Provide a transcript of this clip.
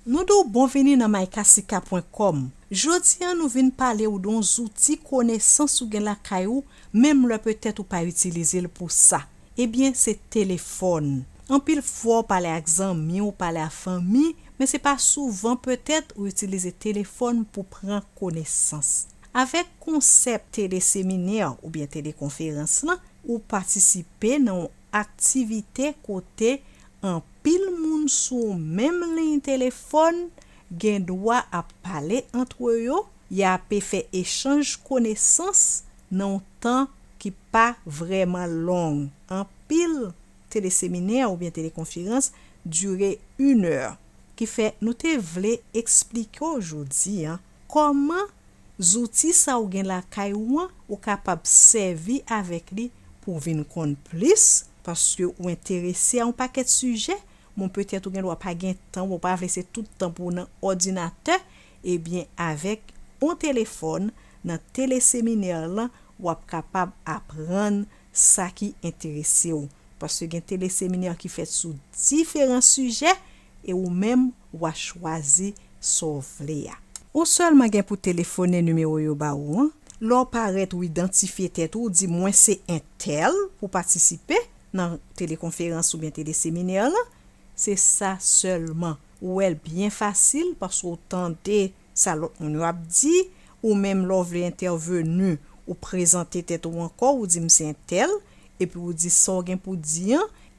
Nou di w bon vini nan mycasika pwen kòm. Jodi an nou vin pale w doun zouti konesans ou gen lakay ou menm lè petèt ou pa itilize l pou sa. Ebyen se telefòn. Anpil fwa w pale ak zanmi w pale a fanmi men se pa souvan petèt ou itilize telefòn pou pran konesans. Avèk konsèp teleseminè oubyen telekonferans lan ou patisipe nan w Aktivite kote anpil moun sou menm liy telefòn gen dwa ap pale antre yo, y ape fè echanj konesans nan yon tan ki pa vrèman long. Anpil teleseminè oubyen telekonferans dire inè, kifè nou te vle eksplike w jodi an Kòman zouti sa ou gen lakay ou an ou kapab sèvi avèk li pou w vin konn plis paske ou enterese a yon pakèt sijè, bon petèt ou gendwa pa gen tan oubyen ou pa vle se tout tan pou w nan òdinatè, ebyen avèk yon telefòn nan teleseminè lan w ap kapab aprann sa ki enterese w paske gen teleseminè ki fèt sou diferan sijè E ou menm wa chwazi sa w vle a. Ou sèlman gen pou telefone nimewo yo ba ou an. Lè w parèt ou idantifye tèt ou, ou di mwen se entèl pou patisipe nan telekonferans oubyen teleseminè lan. Se sa sèlman. Ou wè l byen fasil paske w tande sa lòt moun yo ap di. Ou menm lè w vle entèvenu, ou prezante tèt ou ankò, ou di m se entèl, epi ou di sa w gen pou di an,